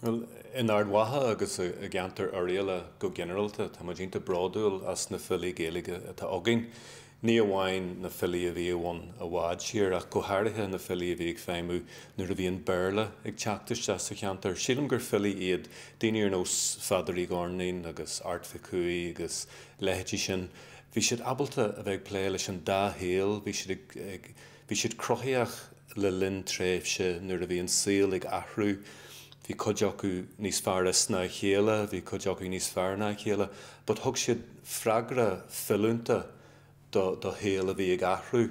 Bhuel, in Ard Mhacha agus i gceantar Oirialla go ginearalta, tá muid iontach bródúil as na filí Gaeilge atá againn. Ní amháin na filí a bhíodh ann i bhfad siar, ach go háirithe na filí a bhí ag feidhmiú nuair a bhí an Béarla ag teacht isteach sa cheantar. Sílim gur filí iad daoine ar nós Pheadair Uí Dhoirnín agus Airt Mhic Cumhaigh agus leithéidí sin. Bhí siad ábalta a bheith ag plé leis an dá shaol, bhí siad ag. Bhí siad cruthaitheach le linn tréimhse nuair a bhí an saol ag athrú, bhí cuid acu níos fearr is ná a chéile, bhí cuid acu níos fearr ná a chéile, but thug siad freagra filiúnta do do shaol a bhí ag athrú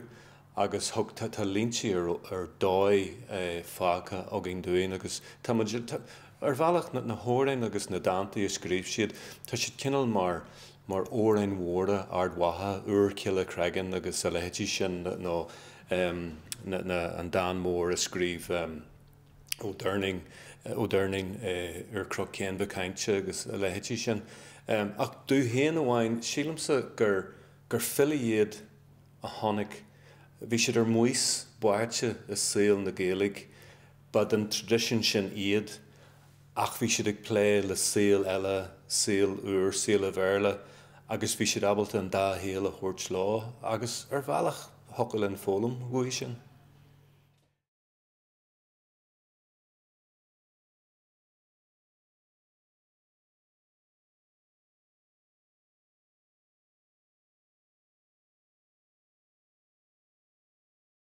agus thug, tá tá líntí ar ar dóigh fágtha acu dúinn agus tá muid, tá, ar bhealach na hamhráin agus na dántaí a scríobh siad, tá siad cineál mar mar amhráin mhóra Ard Mhacha, Úrchill an Chreagáin agus a leithéidí sin, nó an dán mór a scríobh Ó Doirnín, Úrchnoc Chéin Mhic Cáinte agus a leithéidí sin. Ach domh féin amháin, sílimse gur filí iad a tháinig, bhí siad ar maos báite i saol na Gaeilge, ba den traidisiún sin iad. ach bhí siad ag plé le saol eile, saol úr, saol an Bhéarla, agus bhí siad ábalta an dá shaol a thabhairt leo, agus ar bhealach thiocfadh linn foghlaim uathu sin.